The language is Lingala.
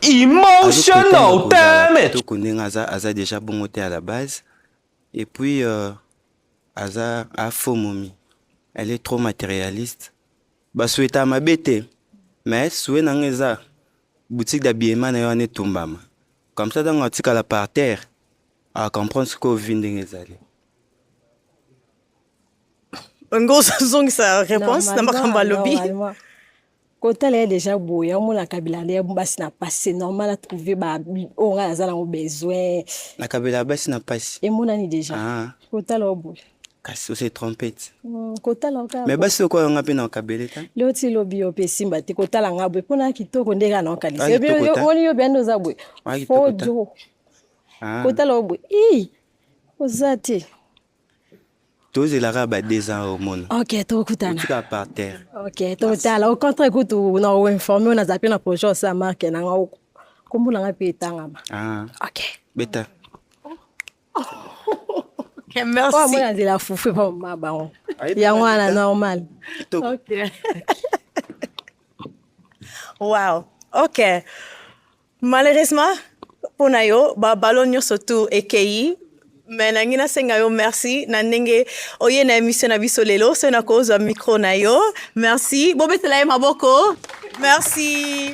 Emotional damage. Toko ndenge aza aza déjà bongo te à la base et puis euh, aza a faux momi. Elle est trop matérialiste. Ba souhaita mabe te mais souhait nanga eza boutique d'habillement na yo ane tumbama. Comme ça ntango atikala par terre a comprendre sikoyo vie ndenge ezali. Ngozo zongisa réponse na makambo alobi. kotala ye deja boye omona kabila nde basi na pasi c'est normal atrouve oyo ngai naza nango besoin na kabila basi na pasi emonani deja ah. kotala yo boye kasi ose trompete hmm, kotala kaka mais basi lokola yonga mpe na kabele ta leo ti lobi yo mpe esimba te kotala nga boye mpo na kitoko nde kaka na okanisa ah, oni yo biande oza boye ah, fojo kotala yo boye i oza te tozelaka ba deux ans omona ok tokutana tika par terre ok totala au contraire kutu na oinforme oyo naza mpe na projet osala marke na nga oko nkombo na nga mpe etangama ah. ok beta Okay, merci. Oh, moi, de la foufou, pas ma baron. Il y a moi, la normale. Ok. wow. Ok. Malheureusement pona yo ba ballon nyoso tour ekeyi mais nangi nasenga yo merci na ndenge oye na emission na biso lelo soki nakozwa micro na yo merci bobetela ye maboko merci